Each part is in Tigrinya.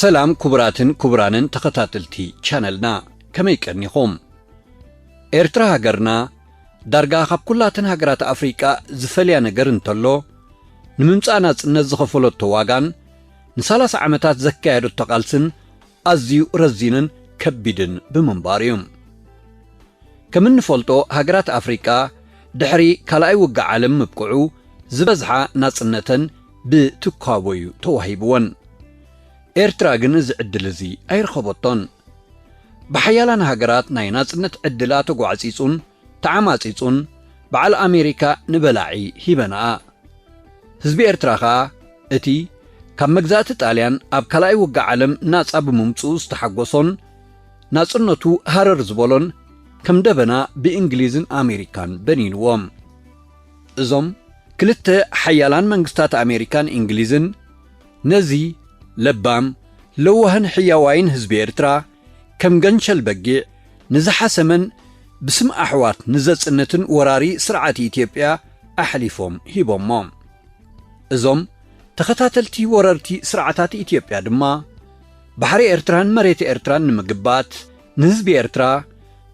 ሰላም ኩቡራትን ኩቡራንን ተኸታተልቲ ቻነልና ከመይ ቀኒኹም ኤርትራ ሃገርና ዳርጋ ካብ ኩላተን ሃገራት ኣፍሪቃ ዝፈልያ ነገር እንተሎ ንምምጻእ ናጽነት ዝኸፈለቶ ዋጋን ንሳላሳ ዓመታት ዘካየደቶ ቃልስን ኣዝዩ ረዚንን ከቢድን ብምንባሩ እዩ። ከም እንፈልጦ ሃገራት ኣፍሪቃ ድሕሪ ካልኣይ ውግእ ዓለም ምብቅዑ ዝበዝሓ ናጽነተን ብትኳቦ እዩ ተዋሂብወን። ኤርትራ ግን እዚ ዕድል እዚ ኣይረኸበቶን። ብሓያላን ሃገራት ናይ ናጽነት ዕድላ ተጓዕጺጹን ተዓማጺጹን በዓል ኣሜሪካ ንበላዒ ሂበናኣ ህዝቢ ኤርትራ ከኣ እቲ ካብ መግዛእቲ ጣልያን ኣብ ካልኣይ ውግእ ዓለም ናጻ ብምምጽኡ ዝተሓጎሶን ናጽነቱ ሃረር ዝበሎን ከም ደበና ብእንግሊዝን ኣሜሪካን በኒንዎም እዞም ክልተ ሓያላን መንግስታት ኣሜሪካን እንግሊዝን ነዚ ለባም ለዋህን ሕያዋይን ህዝቢ ኤርትራ ከም ገንሸል በጊዕ ንዝሓሰመን ብስም ኣሕዋት ንዘጽንትን ወራሪ ስርዓት ኢትዮጵያ ኣሕሊፎም ሂቦሞ። እዞም ተኸታተልቲ ወረርቲ ስርዓታት ኢትዮጵያ ድማ ባሕሪ ኤርትራን መሬት ኤርትራን ንምግባት ንህዝቢ ኤርትራ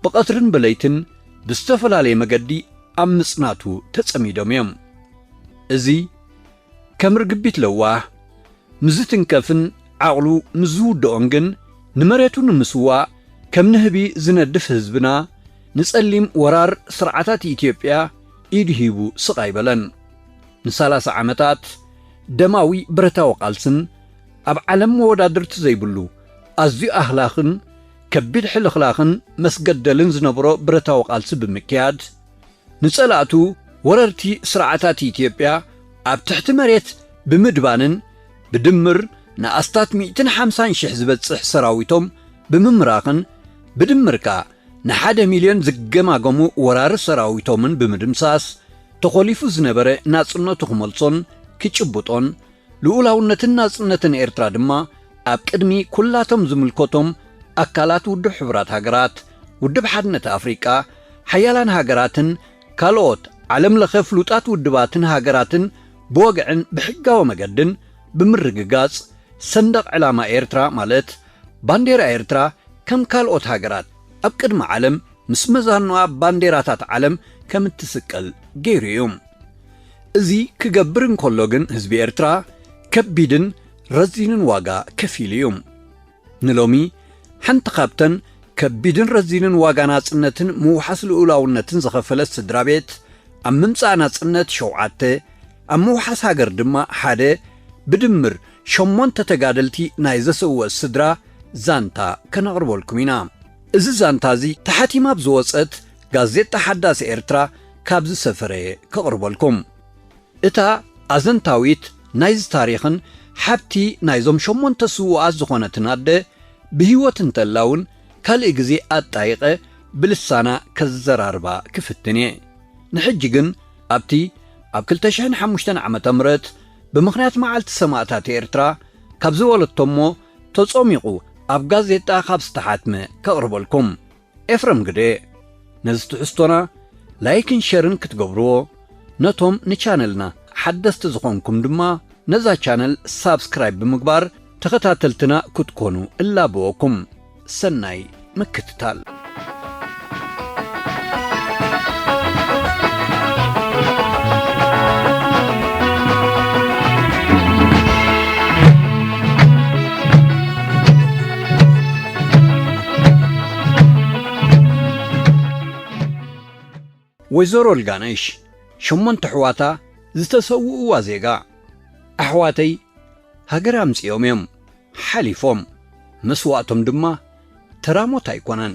ብቐትርን ብለይትን ብዝተፈላለየ መገዲ ኣብ ምጽናቱ ተጸሚዶም እዮም። እዚ ከም ርግቢት ለዋህ ምስ ዝትንከፍን ዓቕሉ ምስ ዝውድኦን ግን ንመሬቱ ንምስዋእ ከም ንህቢ ዝነድፍ ህዝብና ንጸሊም ወራር ስርዓታት ኢትዮጵያ ኢዱ ሂቡ ስቕ ኣይበለን። ንሳላሳ ዓመታት ደማዊ ብረታዊ ቃልስን ኣብ ዓለም መወዳድርቲ ዘይብሉ ኣዝዩ ኣህላኽን ከቢድ ሕልኽላኽን መስገደልን ዝነበሮ ብረታዊ ቃልሲ ብምክያድ፣ ንጸላእቱ ወረርቲ ስርዓታት ኢትዮጵያ ኣብ ትሕቲ መሬት ብምድባንን ብድምር ንኣስታት ሚእትን ሓምሳን ሽሕ ዝበጽሕ ሰራዊቶም ብምምራኽን ብድምር ከኣ ንሓደ ሚልዮን ዝገማገሙ ወራሪ ሰራዊቶምን ብምድምሳስ ተኾሊፉ ዝነበረ ናጽነቱ ክመልሶን ክጭብጦን ልኡላውነትን ናጽነትን ኤርትራ ድማ ኣብ ቅድሚ ኩላቶም ዝምልከቶም ኣካላት ውድብ ሕቡራት ሃገራት፣ ውድብ ሓድነት ኣፍሪቃ፣ ሓያላን ሃገራትን ካልኦት ዓለም ለኸ ፍሉጣት ውድባትን ሃገራትን ብወግዕን ብሕጋዊ መገድን ብምርግጋጽ ሰንደቕ ዕላማ ኤርትራ ማለት ባንዴራ ኤርትራ ከም ካልኦት ሃገራት ኣብ ቅድሚ ዓለም ምስ መዛኑኣ ባንዴራታት ዓለም ከም እትስቀል ገይሩ እዩ። እዚ ክገብር እንከሎ ግን ህዝቢ ኤርትራ ከቢድን ረዚንን ዋጋ ከፊሉ እዩ። ንሎሚ ሓንቲ ካብተን ከቢድን ረዚንን ዋጋ ናጽነትን ምውሓስ ልኡላውነትን ዝኸፈለት ስድራ ቤት ኣብ ምምጻእ ናጽነት ሸውዓተ ኣብ ምውሓስ ሃገር ድማ ሓደ ብድምር ሸሞንተ ተጋደልቲ ናይ ዘሰወት ስድራ ዛንታ ከነቕርበልኩም ኢና። እዚ ዛንታ እዚ ተሓቲማ ኣብ ዝወጸት ጋዜጣ ሓዳስ ኤርትራ ካብ ዝሰፈረ'የ ከቕርበልኩም። እታ ኣዘንታዊት ናይዚ ታሪኽን ሓብቲ ናይዞም ሸሞንተ ስዉኣት ዝኾነትን ኣደ፣ ብህይወት እንተላ'ውን ካልእ ግዜ ኣጣይቐ ብልሳና ከዘራርባ ክፍትን'የ። ንሕጂ ግን ኣብቲ ኣብ ክልተ ሽሕን ሓሙሽተን ዓመተ ምህረት ብምኽንያት መዓልቲ ሰማእታት ኤርትራ ካብ ዝበለቶ'ሞ ተጾሚቑ ኣብ ጋዜጣ ካብ ዝተሓትመ ከቕርበልኩም። ኤፍረም ግደ ነዚ ትሕዝቶና ላይክን ሸርን ክትገብርዎ ነቶም ንቻነልና ሓደስቲ ዝኾንኩም ድማ ነዛ ቻነል ሳብስክራይብ ብምግባር ተኸታተልትና ክትኮኑ እላበወኩም ሰናይ ምክትታል። ወይዘሮ ልጋነሽ ሸሞንተ ኣሕዋታ ዝተሰውእዋ ዜጋ፣ ኣሕዋተይ ሃገር ኣምጺኦም እዮም ሓሊፎም፣ መስዋእቶም ድማ ተራ ሞት ኣይኮነን።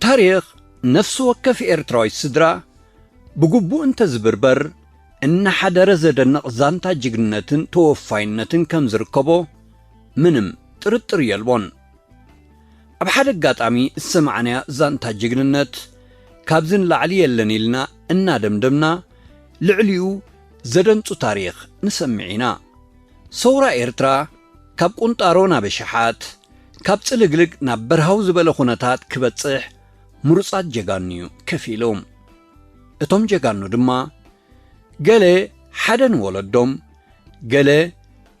ታሪኽ ነፍሲ ወከፍ ኤርትራዊት ስድራ ብግቡእ እንተዝብርበር እናሓደረ ዘደንቕ ዛንታ ጅግንነትን ተወፋይነትን ከም ዝርከቦ ምንም ጥርጥር የልቦን። ኣብ ሓደ ኣጋጣሚ ዝሰማዕናያ ዛንታ ጅግንነት ካብዚ ንላዕሊ የለን ኢልና እናደምደምና ልዕሊኡ ዘደንጹ ታሪኽ ንሰምዕ ኢና። ሰውራ ኤርትራ፣ ካብ ቁንጣሮ ናብ ኣሽሓት፣ ካብ ጽልግልግ ናብ በርሃው ዝበለ ኩነታት ክበጽሕ ምሩጻት ጀጋኑ'ዩ ከፊሉ። እቶም ጀጋኑ ድማ ገለ ሓደ ንወለዶም፣ ገለ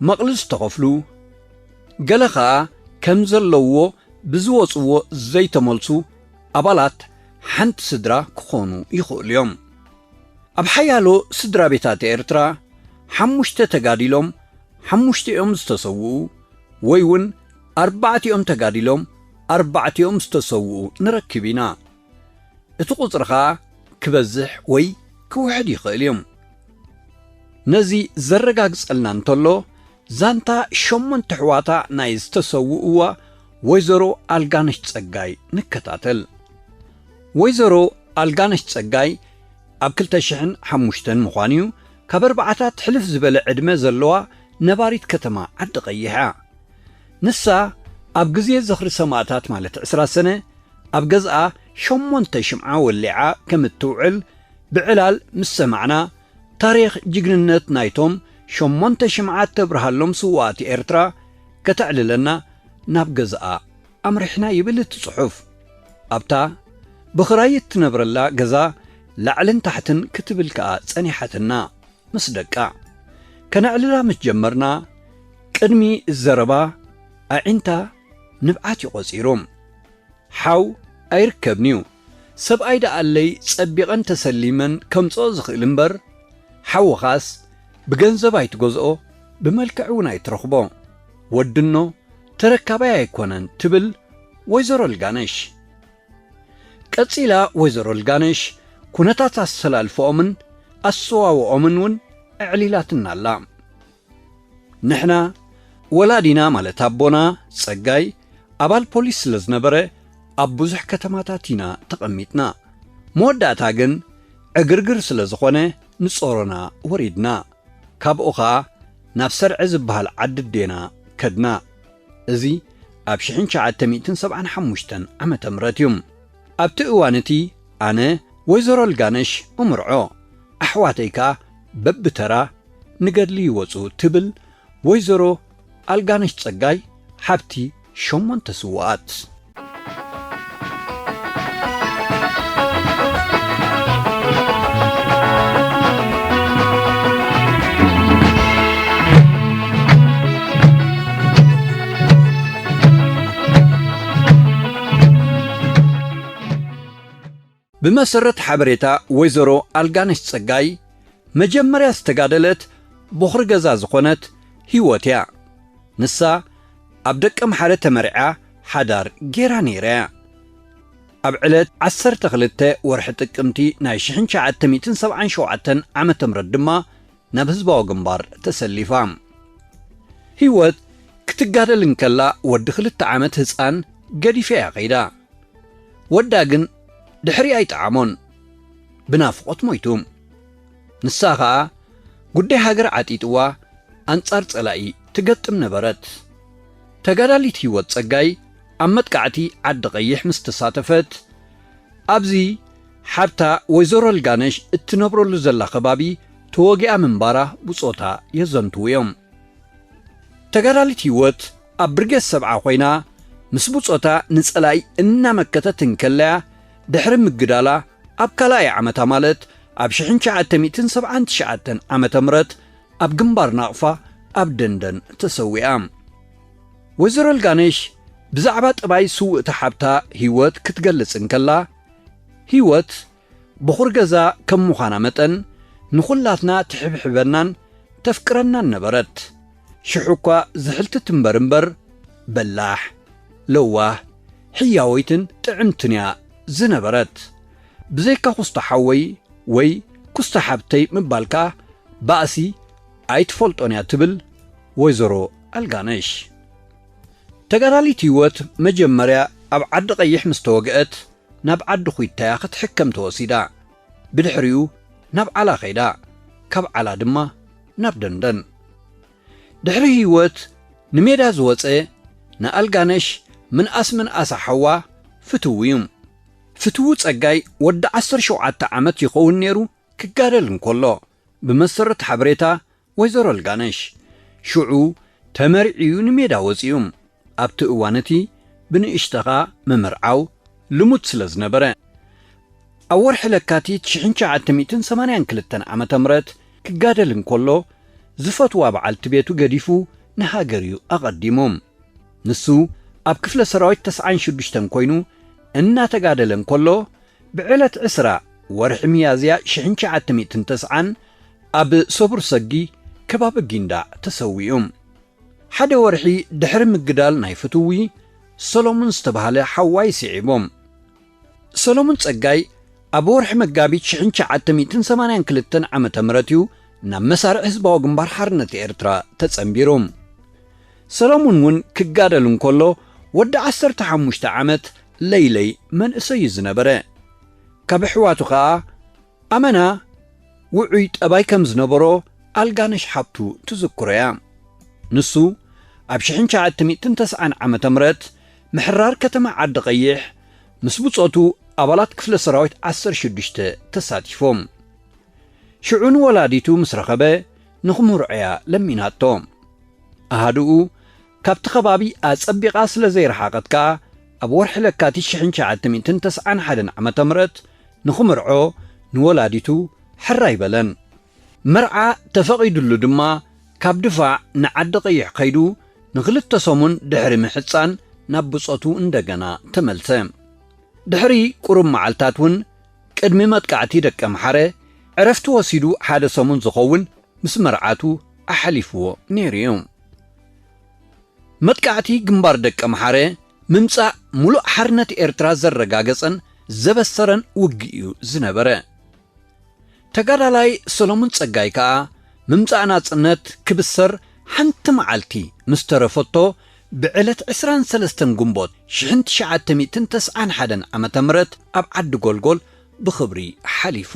መቕልል ዝተኸፍሉ፣ ገለ ከኣ ከም ዘለውዎ ብዝወጽዎ ዘይተመልሱ ኣባላት ሓንቲ ስድራ ክኾኑ ይኽእሉ'ዮም። ኣብ ሓያሎ ስድራቤታት ኤርትራ ሓሙሽተ ተጋዲሎም ሓሙሽቲኦም ዝተሰውኡ ወይ ውን ኣርባዕቲኦም ተጋዲሎም ኣርባዕቲኦም ዝተሰውኡ ንረክብ ኢና። እቲ ቁጽሪ ከኣ ክበዝሕ ወይ ክውሕድ ይኽእል እዩ። ነዚ ዘረጋግጸልና እንተሎ ዛንታ ሸሞንተ ኣሕዋታ ናይ ዝተሰውእዋ ወይዘሮ ኣልጋነሽ ጸጋይ ንከታተል። ወይዘሮ ኣልጋነሽ ጸጋይ፣ ኣብ ክልተ ሽሕን ሓሙሽተን ምዃኑ'ዩ፣ ካብ ኣርባዓታት ሕልፍ ዝበለ ዕድመ ዘለዋ ነባሪት ከተማ ዓዲ-ቐይሕ'ያ። ንሳ ኣብ ግዜ ዝኽሪ ሰማእታት ማለት ዕስራ ሰነ ኣብ ገዝኣ ሸሞንተ ሽምዓ ወሊዓ ከም እትውዕል ብዕላል ምስ ሰማዕና፣ ታሪኽ ጅግንነት ናይቶም ሸሞንተ ሽምዓ እተብርሃሎም ስዉኣት ኤርትራ ከተዕልለና ናብ ገዝኣ ኣምሪሕና ይብል እቲ ጽሑፍ። ኣብታ ብኽራይ እትነብረላ ገዛ ላዕልን ታሕትን ክትብል ከኣ ጸኒሓትና ምስ ደቃ። ከነዕልላ ምስ ጀመርና ቅድሚ ዘረባ ኣዒንታ ንብዓት እዩ ቆጺሩ። ሓው ኣይርከብን'ዩ። ሰብኣይ ደኣለይ ጸቢቐን ተሰሊመን ከምጽኦ ዝኽእል እምበር፣ ሓውኻስ ብገንዘብ ኣይትገዝኦ ብመልክዕ እውን ኣይትረኽቦ። ወድኖ ተረካባይ ኣይኮነን ትብል ወይዘሮ ልጋነሽ። ቀጺላ ወይዘሮ ልጋነሽ ኩነታት ኣሰላልፈኦምን ኣሰዋውኦምን እውን ኣዕሊላትና ኣላ። ንሕና ወላዲና ማለት ኣቦና ጸጋይ ኣባል ፖሊስ ስለ ዝነበረ ኣብ ብዙሕ ከተማታት ኢና ተቐሚጥና። መወዳእታ ግን ዕግርግር ስለ ዝኾነ ንጾሮና ወሪድና። ካብኡ ከኣ ናብ ሰርዐ ዝበሃል ዓዲ ኣዴና ከድና። እዚ ኣብ ሽሕን ትሽዓተ ሚእትን ሰብዓን ሓሙሽተን ዓመተ ምህረት እዩ። ኣብቲ እዋን እቲ ኣነ ወይዘሮ ልጋነሽ እምርዖ፣ ኣሕዋተይ ከኣ በብተራ ንገድሊ ይወጹ ትብል ወይዘሮ ኣልጋነሽ ጸጋይ ሓብቲ ሸሞንተ ስዉኣት። ብመሰረት ሓበሬታ ወይዘሮ ኣልጋነሽ ጸጋይ፣ መጀመርያ ዝተጋደለት ቦኽሪ ገዛ ዝኾነት ህይወት እያ። ንሳ ኣብ ደቀምሓረ ተመርዕያ ሓዳር ገይራ ነይራ እያ። ኣብ ዕለት ዓሰርተ ክልተ ወርሒ ጥቅምቲ ናይ ሽሕን ትሽዓተ ሚእትን ሰብዓን ሸውዓተን ዓመተ ምህረት ድማ ናብ ህዝባዊ ግንባር ተሰሊፋ። ህይወት ክትጋደል እንከላ ወዲ ክልተ ዓመት ህጻን ገዲፋ'ያ ከይዳ። ወዳ ግን ድሕሪኣ ኣይጠዓሞን። ብናፍቖት ሞይቱ። ንሳ ከኣ ጉዳይ ሃገር ዓጢጥዋ ኣንጻር ጸላኢ ትገጥም ነበረት። ተጋዳሊት ህይወት ጸጋይ ኣብ መጥቃዕቲ ዓዲ ቐይሕ ምስ ተሳተፈት ኣብዚ ሓብታ ወይዘሮ ልጋነሽ እትነብረሉ ዘላ ከባቢ ተወጊኣ ምንባራ ብጾታ የዘንትዉ እዮም። ተጋዳሊት ህይወት ኣብ ብርጌድ ሰብዓ ኮይና ምስ ብጾታ ንጸላኢ እናመከተት እንከላ'ያ ድሕሪ ምግዳላ ኣብ ካልኣይ ዓመታ ማለት ኣብ ሽሕን ትሽዓተ ሚእትን ሰብዓን ትሽዓተን ዓመተ ምህረት ኣብ ግንባር ናቕፋ ኣብ ደንደን ተሰዊኣ። ወይዘሮ ልጋነሽ ብዛዕባ ጠባይ ስውእቲ ሓብታ ህይወት ክትገልጽ እንከላ፣ ህይወት በዅሪ ገዛ ከም ምዃና መጠን፣ ንዅላትና ትሕብሕበናን ተፍቅረናን ነበረት። ሽሕ እኳ ዝሕልቲ ትንበር እምበር፣ በላሕ፣ ለዋህ፣ ሕያወይትን ጥዕምትን እያ ዝነበረት። ብዘይካ ኵስቶ ሓወይ ወይ ኵስቶ ሓብተይ ምባል ከኣ ባእሲ ኣይትፈልጦን እያ ትብል ወይዘሮ ኣልጋነሽ። ተጋዳሊት ህይወት መጀመርያ ኣብ ዓዲ ቐይሕ ምስ ተወግኣት ናብ ዓዲ ኹይታያ ክትሕከም ተወሲዳ። ብድሕሪኡ ናብ ዓላ ከይዳ። ካብ ዓላ ድማ ናብ ደንደን። ድሕሪ ህይወት ንሜዳ ዝወጸ ንኣልጋነሽ ምንኣስ ምንኣሳ ሓዋ ፍትው እዩ። ፍትው ጸጋይ ወዲ ዓሰርተ ሸውዓተ ዓመት ይኸውን ነይሩ ክጋደል እንከሎ ብመሰረት ሓበሬታ ወይዘሮ ልጋነሽ፣ ሽዑ ተመርዕዩ ንሜዳ ወጺኡ። ኣብቲ እዋን እቲ ብንእሽተኻ ምምርዓው ልሙድ ስለ ዝነበረ። ኣብ ወርሒ ለካቲት ሽሕን ትሽዓተ ሚእትን ሰማንያን ክልተን ዓመተ ምረት ክጋደል እንከሎ ዝፈትዋ በዓልቲ ቤቱ ገዲፉ ንሃገር እዩ ኣቐዲሙ። ንሱ ኣብ ክፍለ ሰራዊት ተስዓን ሽዱሽተን ኮይኑ እናተጋደለ እንከሎ ብዕለት ዕስራ ወርሒ ሚያዝያ ሽሕን ትሽዓተ ሚእትን ተስዓን ኣብ ሰቡር ሰጊ ከባቢ ጊንዳዕ ተሰዊኡ። ሓደ ወርሒ ድሕሪ ምግዳል ናይ ፍትዊ ሰሎሙን ዝተባህለ ሓዋይ ስዒቡ። ሰሎሙን ጸጋይ ኣብ ወርሒ መጋቢት ሽሕን ትሽዓተ ሚእትን ሰማንያን ክልተን ዓመተ ምህረት እዩ ናብ መሳርዕ ህዝባዊ ግንባር ሓርነት ኤርትራ ተጸንቢሩ። ሰለሙን ውን ክጋደል እንከሎ ወዲ ዓሰርተ ሓሙሽተ ዓመት ለይለይ መንእሰይ ዩ ዝነበረ። ካብ ኣሕዋቱ ከኣ ኣመና ውዑይ ጠባይ ከም ዝነበሮ ኣልጋነሽ ሓብቱ ትዝክሮ'ያ። ንሱ ኣብ ሽሕን ትሽዓተ ሚእትን ተስዓን ዓመተ ምህረት ምሕራር ከተማ ዓዲ ቐይሕ ምስ ብጾቱ ኣባላት ክፍለ ሰራዊት ዓሰርተ ሽዱሽተ ተሳቲፎም ሽዑ ንወላዲቱ ምስ ረኸበ ንኽምርዖ'ያ ለሚናቶ። ኣሃዱኡ ካብቲ ከባቢ ኣጸቢቓ ስለ ዘይረሓቐት ከኣ፣ ኣብ ወርሒ ለካቲት ሽሕን ትሽዓተ ሚእትን ተስዓን ሓደን ዓመተ ምረት ንኽምርዖ ንወላዲቱ ሕራይ በለን። መርዓ ተፈቒዱሉ ድማ ካብ ድፋዕ ንዓዲ ቐይሕ ከይዱ ንኽልተ ሰሙን ድሕሪ ምሕጻን ናብ ብጾቱ እንደገና ተመልሰ። ድሕሪ ቁሩብ መዓልታት'ውን ቅድሚ መጥቃዕቲ ደቀምሓረ ዕረፍቲ ወሲዱ ሓደ ሰሙን ዝኸውን ምስ መርዓቱ ኣሕሊፍዎ ነይሩ'ዩ። መጥቃዕቲ ግንባር ደቀምሓረ ምምጻእ ሙሉእ ሓርነት ኤርትራ ዘረጋገጸን ዘበሰረን ውግእ'ዩ ዝነበረ። ተጋዳላይ ሰለሙን ጸጋይ ከኣ ምምጻእ ናጽነት ክብሰር ሓንቲ መዓልቲ ምስ ተረፈቶ ብዕለት ዕስራን ሰለስተን ግንቦት ሽሕን ትሽዓተ ሚእትን ተስዓን ሓደን ዓመተ ምህረት ኣብ ዓዲ ጎልጎል ብኽብሪ ሓሊፉ።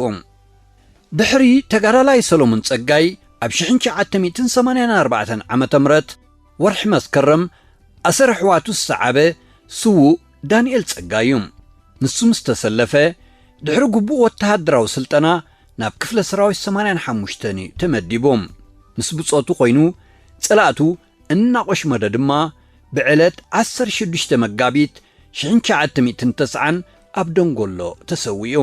ድሕሪ ተጋዳላይ ሰለሙን ጸጋይ ኣብ ሽሕን ትሽዓተ ሚእትን ሰማንያን ኣርባዕተን ዓመተ ምህረት ወርሒ መስከረም ኣሰር ኣሕዋቱ ዝሰዓበ ስዉእ፣ ዳንኤል ጸጋይ እዩ። ንሱ ምስ ተሰለፈ፣ ድሕሪ ግቡእ ወተሃደራዊ ስልጠና ናብ ክፍለ ሰራዊት ሰማንያን ሓሙሽተን እዩ ተመዲቡ። ምስ ብጾቱ ኮይኑ ጸላእቱ እናቖሽመደ ድማ ብዕለት ዓሰርተ ሽዱሽተ መጋቢት ሽሕን ትሽዓተ ሚእትን ተስዓን ኣብ ደንጎሎ ተሰዊኡ።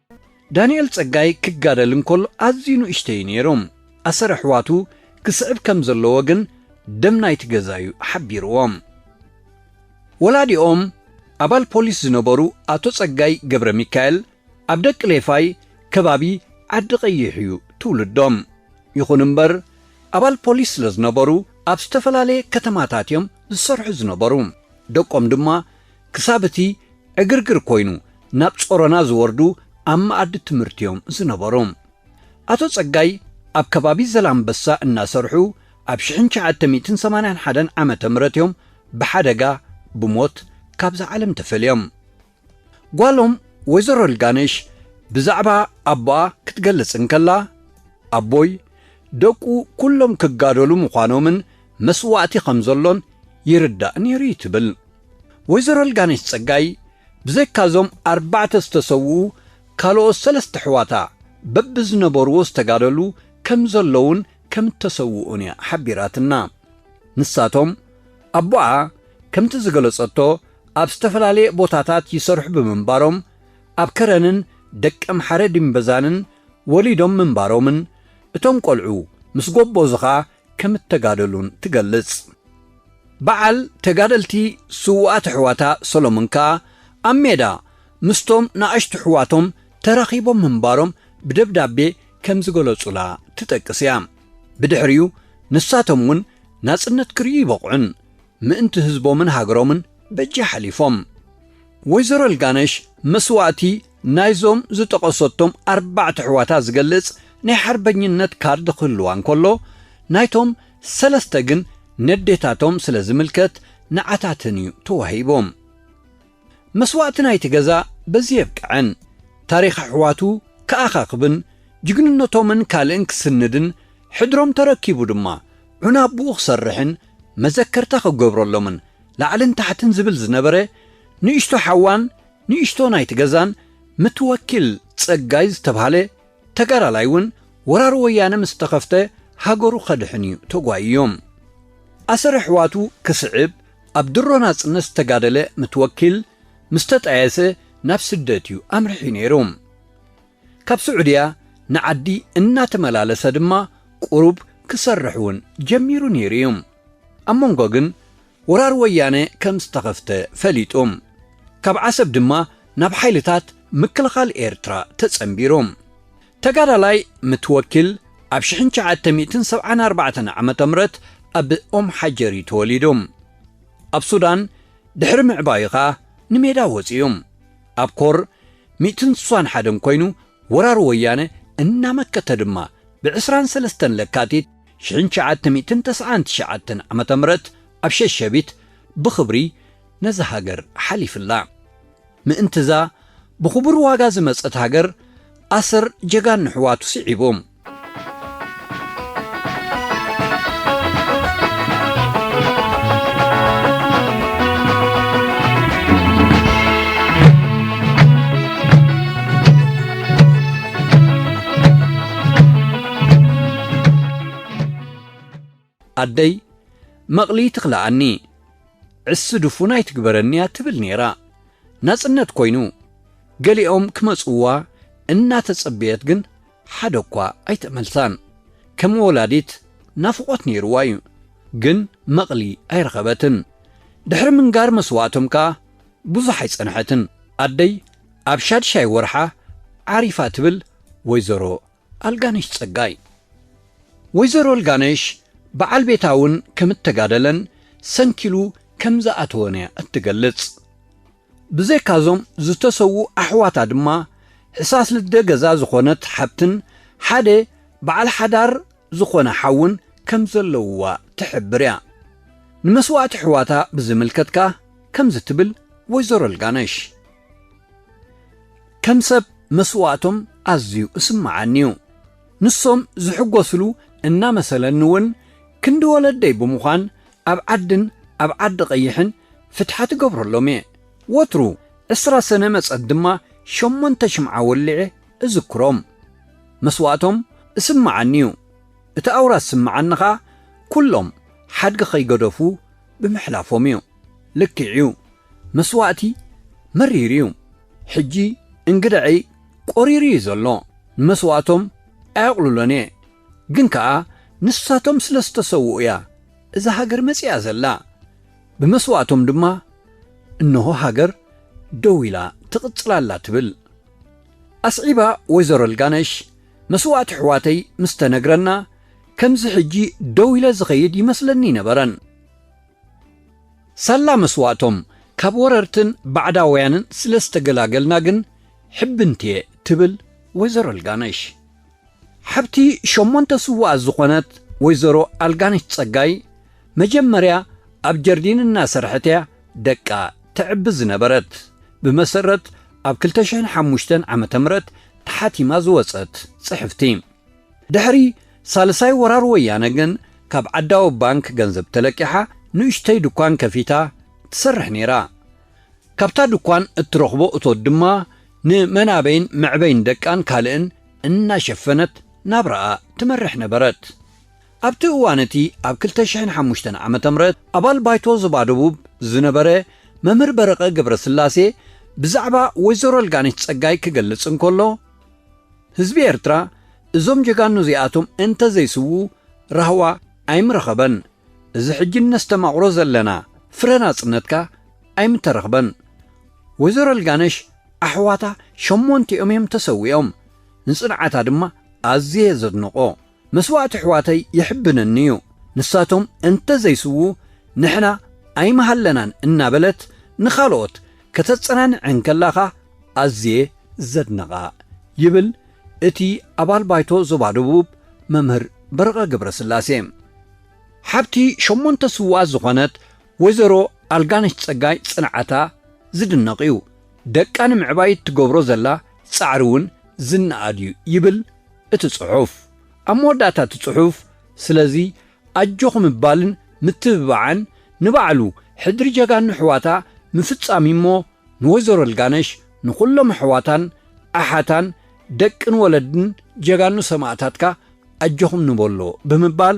ዳንኤል ጸጋይ ክጋደል እንከሎ ኣዝዩ ንእሽቶ'ዩ ነይሩ፣ ኣሰር ኣሕዋቱ ክስዕብ ከም ዘለዎ ግን ደም ናይቲ ገዛ'ዩ ሓቢርዎም። ወላዲኦም ኣባል ፖሊስ ዝነበሩ ኣቶ ጸጋይ ገብረሚካኤል ኣብ ደቅሌፋይ ከባቢ ዓዲቐይሕ'ዩ ትውልዶም። ይኹን እምበር ኣባል ፖሊስ ስለ ዝነበሩ ኣብ ዝተፈላለየ ከተማታት'ዮም ዝሰርሑ ዝነበሩ፣ ደቆም ድማ ክሳብ እቲ ዕግርግር ኮይኑ ናብ ጾሮና ዝወርዱ ኣብ መኣዲ ትምህርቲ'ዮም ዝነበሩ። ኣቶ ጸጋይ ኣብ ከባቢ ዘላንበሳ እናሰርሑ ኣብ ሽሕን ትሽዓተ ሚእትን ሰማንያን ሓደን ዓመተ ምህረት'ዮም ብሓደጋ፣ ብሞት፣ ካብዛ ዓለም ተፈልዮም። ጓሎም ወይዘሮ ልጋነሽ ብዛዕባ ኣቦኣ ክትገልጽ እንከላ፣ ኣቦይ ደቁ ኩሎም ክጋደሉ ምዃኖምን መስዋእቲ ከም ዘሎን ይርዳእ ነይሩ'ዩ ትብል። ወይዘሮ ኣልጋነሽ ጸጋይ ብዘይካ እዞም ኣርባዕተ ዝተሰውኡ ካልኦት ሰለስተ ኣሕዋታ በብዝነበርዎ ዝተጋደሉ ከምዘለዉን ከምእተሰውኡን እያ ሓቢራትና። ንሳቶም ኣቦኣ ከምቲ ዝገለጸቶ ኣብ ዝተፈላለየ ቦታታት ይሰርሑ ብምንባሮም ኣብ ከረንን ደቀምሓረ ዲምበዛንን ወሊዶም ምንባሮምን እቶም ቆልዑ ምስ ጎቦዙኻ ከም እተጋደሉን ትገልጽ። በዓል ተጋደልቲ ስዉኣት ኣሕዋታ ሰሎሞን ከኣ ኣብ ሜዳ ምስቶም ንኣሽቱ ኣሕዋቶም ተራኺቦም ምንባሮም ብደብዳቤ ከም ዝገለጹላ ትጠቅስ እያ። ብድሕሪኡ ንሳቶም እውን ናጽነት ክርእዩ ይበቕዑን ምእንቲ ህዝቦምን ሃገሮምን በጃ ሓሊፎም። ወይዘሮ ልጋነሽ መስዋእቲ ናይዞም ዝጠቐሰቶም ኣርባዕተ ኣሕዋታ ዝገልጽ ናይ ሓርበኝነት ካርድ ክህልዋ እንከሎ፣ ናይቶም ሰለስተ ግን ነዴታቶም ስለ ዝምልከት ንዓታተን እዩ ተዋሂቦም። መስዋእቲ ናይቲ ገዛ በዚ የብቅዐን። ታሪኽ ኣሕዋቱ ክኣኻኽብን ጅግንነቶምን ካልእን ክስንድን ሕድሮም ተረኪቡ ድማ ዑና ኣቡኡ ክሰርሕን መዘከርታ ክገብረሎምን ላዕልን ታሕትን ዝብል ዝነበረ ንእሽቶ ሓዋን ንእሽቶ ናይቲ ገዛን ምትወኪል ጸጋይ ዝተብሃለ ተጋዳላይ እውን ወራር ወያነ ምስ ተኸፍተ ሃገሩ ከድሕን እዩ ተጓይዮም። ኣሰር ኣሕዋቱ ክስዕብ ኣብ ድሮ ናጽነት ዝተጋደለ ምትወኪል ምስ ተጣየሰ ናብ ስደት እዩ ኣምሪሑ ነይሩ። ካብ ስዑድያ ንዓዲ እናተመላለሰ ድማ ቁሩብ ክሰርሕ እውን ጀሚሩ ነይሩ እዩ። ኣብ መንጎ ግን ወራር ወያነ ከም ዝተኸፍተ ፈሊጡ፣ ካብ ዓሰብ ድማ ናብ ሓይልታት ምክልኻል ኤርትራ ተጸንቢሩ። ተጋዳላይ ምትወኪል ኣብ ሽሕን ትሽዓተ ሚእትን ሰብዓን ኣርባዕተን ዓመተ ምረት ኣብ ኡም ሓጀር እዩ ተወሊዱ። ኣብ ሱዳን ድሕሪ ምዕባዩ ከኣ ንሜዳ ወጺኡ። ኣብ ኮር ሚእትን ስሳን ሓደን ኮይኑ ወራር ወያነ እናመከተ ድማ ብ ዕስራን ሰለስተን ለካቲት ሽሕን ትሽዓተ ሚእትን ተስዓን ትሽዓተን ዓመተ ምህረት ኣብ ሸሸቢት ብኽብሪ ነዛ ሃገር ሓሊፍላ። ምእንቲ'ዛ ብኽቡር ዋጋ ዝመጸት ሃገር ኣሰር ጀጋኑ ኣሕዋቱ ስዒቡ። ኣደይ መቕሊ ትኽልኣኒ ዕሲ ድፉን ኣይትግበረኒያ ትብል ነይራ። ናጽነት ኮይኑ ገሊኦም ክመጽዋ እናተጸበየት ግን ሓደ እኳ ኣይተመልሳን። ከም ወላዲት ናፍቖት ነይርዋ እዩ፣ ግን መቕሊ ኣይረኸበትን። ድሕሪ ምንጋር መስዋእቶም ከኣ ብዙሕ ኣይጸንሐትን። ኣደይ ኣብ ሻድሻይ ወርሓ ዓሪፋ ትብል ወይዘሮ ኣልጋነሽ ጸጋይ። ወይዘሮ ኣልጋነሽ በዓል ቤታ እውን ከም እተጋደለን ሰንኪሉ ከም ዝኣተወን እያ እትገልጽ። ብዘይካ'ዞም ዝተሰውኡ ኣሕዋታ ድማ ሕሳስ ልደ ገዛ ዝዀነት ሓብትን ሓደ በዓል ሓዳር ዝዀነ ሓውን ከም ዘለዉዋ ትሕብር እያ። ንመስዋእቲ ኣሕዋታ ብዝምልከት ከኣ ከምዚ ትብል ወይዘሮ ኣልጋነሽ። ከም ሰብ መስዋእቶም ኣዝዩ እስመዓኒ እዩ። ንሶም ዝሕጎስሉ እናመሰለኒ እውን ክንዲ ወለደይ ብምዃን ኣብ ዓድን ኣብ ዓዲ ቐይሕን ፍትሓት እገብረሎም እየ። ወትሩ ዕስራ ሰነ መጸት ድማ ሸሞንተ ሽምዓ ወሊዐ እዝክሮም። መስዋእቶም እስመዓኒ እዩ። እቲ ኣውራ ዝስመዓኒ ከኣ ኩሎም ሓድጊ ከይገደፉ ብምሕላፎም እዩ። ልክዕ እዩ መስዋእቲ መሪር እዩ ሕጂ እንግደዐይ ቆሪሩ እዩ ዘሎ ንመስዋእቶም ኣየቅልሎን እየ ግን ከኣ ንሳቶም ስለ ዝተሰውኡ እያ እዛ ሃገር መጺኣ ዘላ ብመስዋእቶም ድማ እንሆ ሃገር ደው ኢላ ትቅጽል ኣላ ትብል ኣስዒባ ወይዘሮ ልጋነሽ መስዋእቲ ኣሕዋተይ ምስ ተነግረና ከምዚ ሕጂ ደው ኢለ ዝከይድ ይመስለኒ ኣይነበረን ሳላ መስዋእቶም ካብ ወረርትን ባዕዳውያንን ስለ ዝተገላገልና ግን ሕብንቲ'የ ትብል ወይዘሮ ኣልጋነሽ። ሓብቲ ሸሞንተ ስዉኣት ዝኾነት ወይዘሮ ኣልጋነሽ ጸጋይ፣ መጀመርያ ኣብ ጀርዲን እናሰርሐት'ያ ደቃ ተዕቢ ዝነበረት። ብመሰረት ኣብ ክልተ ሽሕን ሓሙሽተን ዓመተ ምህረት ተሓቲማ ዝወጸት ጽሕፍቲ፣ ድሕሪ ሳልሳይ ወራር ወያነ ግን ካብ ዓዳዊ ባንክ ገንዘብ ተለቂሓ ንእሽተይ ድኳን ከፊታ ትሰርሕ ነይራ። ካብታ ድኳን እትረኽቦ እቶት ድማ ንመናበይን መዕበይን ደቃን ካልእን እናሸፈነት ናብራኣ ትመርሕ ነበረት። ኣብቲ እዋን እቲ ኣብ ክልተ ሽሕን ሓሙሽተን ዓመተ ምህረት ኣባል ባይቶ ዞባ ደቡብ ዝነበረ መምህር በረቐ ገብረስላሴ ብዛዕባ ወይዘሮ ኣልጋነሽ ጸጋይ ክገልጽ እንከሎ፣ ህዝቢ ኤርትራ እዞም ጀጋኑ እዚኣቶም እንተ ዘይስዉ ራህዋ ኣይምረኸበን። እዚ ሕጂ እነስተማቕሮ ዘለና ፍረ ናጽነት ከኣ ኣይምተረኽበን። ወይዘሮ ልጋነሽ ኣሕዋታ ሸሞንቲኦም እዮም ተሰዊኦም። ንጽንዓታ ድማ ኣዝየ እየ ዘድንቖ። መስዋእቲ ኣሕዋተይ የሕብነኒ እዩ፣ ንሳቶም እንተ ዘይስውኡ ንሕና ኣይምሃለናን እናበለት ንኻልኦት ከተጸናንዕ እንከላኻ ኣዝየ ዘድንቓ ይብል እቲ ኣባል ባይቶ ዞባ ደቡብ መምህር በረቐ ገብረስላሴ። ሓብቲ ሸሞንተ ስውኣት ዝኾነት ወይዘሮ ኣልጋነሽ ጸጋይ ጽንዓታ ዝድነቕ እዩ፣ ደቃ ንምዕባይ እትገብሮ ዘላ ጻዕሪ እውን ዝነኣድ እዩ ይብል እቲ ጽሑፍ። ኣብ መወዳእታ እቲ ጽሑፍ ስለዚ ኣጆኹ ምባልን ምትብባዕን ንባዕሉ ሕድሪ ጀጋኑ ኣሕዋታ ምፍጻም እዩ እሞ ንወይዘሮ ልጋነሽ ንኹሎም ኣሕዋታን ኣሓታን ደቅን ወለድን ጀጋኑ ሰማእታትካ ኣጆኹም ንበሎ ብምባል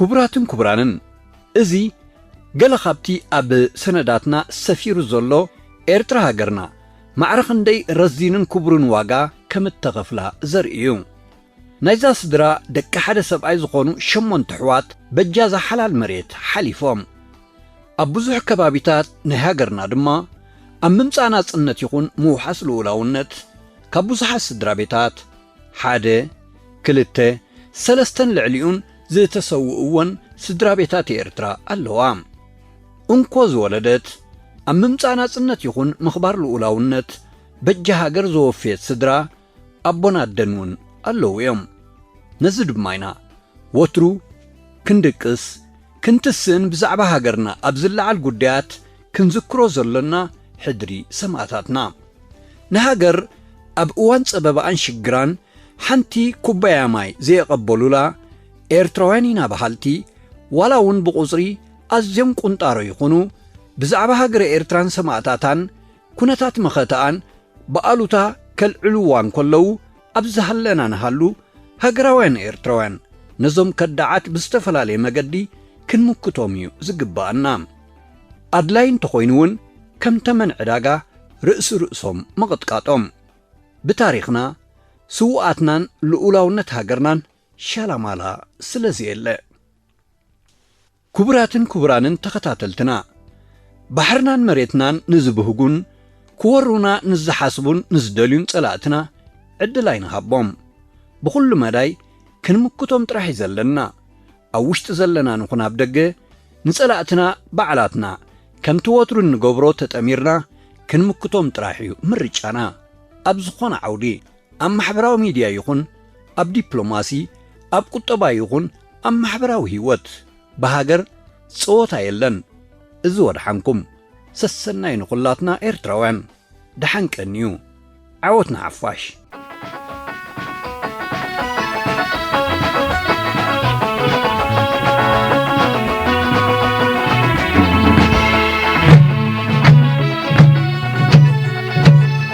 ክቡራትን ክቡራንን፣ እዚ ገለ ካብቲ ኣብ ሰነዳትና ሰፊሩ ዘሎ ኤርትራ ሃገርና ማዕረ ክንደይ ረዚንን ክቡርን ዋጋ ከም እተኸፍላ ዘርኢ እዩ። ናይዛ ስድራ ደቂ ሓደ ሰብኣይ ዝኾኑ ሸሞንተ ኣሕዋት በጃዛ ሓላል መሬት ሓሊፎም። ኣብ ብዙሕ ከባቢታት ናይ ሃገርና ድማ ኣብ ምምጻእ ናጽነት ይኹን ምውሓስ ልኡላውነት ካብ ብዙሓት ስድራቤታት፣ ሓደ፣ ክልተ፣ ሰለስተን ልዕሊኡን ዝተሰውእወን ስድራቤታት ኤርትራ ኣለዋ። እንኮ ዝወለደት፣ ኣብ ምምጻእ ናጽነት ይኹን ምኽባር ልኡላውነት በጃ ሃገር ዘወፈየት ስድራ ኣቦን ኣደን እውን ኣለዉ እዮም። ነዚ ድማ ኢና ወትሩ ክንድቅስ ክንትስእን ብዛዕባ ሃገርና ኣብ ዝለዓል ጉዳያት፣ ክንዝክሮ ዘሎና ሕድሪ ሰማእታትና ንሃገር ኣብ እዋን ጸበባኣን ሽግራን ሓንቲ ኩባያ ማይ ዘየቐበሉላ ኤርትራውያን ኢና በሃልቲ ዋላ ውን ብቑጽሪ ኣዝዮም ቁንጣሮ ይኹኑ ብዛዕባ ሃገረ ኤርትራን ሰማእታታን ኩነታት መኸተኣን ብኣሉታ ከልዕሉዋ እንከለዉ ኣብ ዝሃለና ንሃሉ ሃገራውያን ኤርትራውያን ነዞም ከዳዓት ብዝተፈላለየ መገዲ ክንምክቶም እዩ ዝግበኣና። ኣድላይ እንተኾይኑ እውን ከም ተመን ዕዳጋ ርእሲ ርእሶም ምቕጥቃጦም። ብታሪኽና፣ ስውኣትናን ልኡላውነት ሃገርናን ሻላማላ ስለዘየለ። ክቡራትን ክቡራንን ተኸታተልትና፣ ባሕርናን መሬትናን ንዝብህጉን ክወሩና ንዝሓስቡን ንዝደልዩን ጸላእትና ዕድል ኣይንሃቦም። ብኹሉ መዳይ ክንምክቶም ጥራሕ እዩ ዘለና። ኣብ ውሽጢ ዘለና ንኹን ኣብ ደገ፣ ንጸላእትና ባዕላትና ከምቲ ወትሩ እንገብሮ ተጠሚርና ክንምክቶም ጥራሕ እዩ ምርጫና፣ ኣብ ዝኾነ ዓውዲ። ኣብ ማሕበራዊ ሚድያ ይኹን ኣብ ዲፕሎማሲ፣ ኣብ ቁጠባ ይኹን ኣብ ማሕበራዊ ሂወት ብሃገር ጸወታ የለን። እዚ ወድሓንኩም። ሰሰናዩ ንኹላትና ኤርትራውያን። ድሓን ቀንዩ። ዓወት ንሓፋሽ።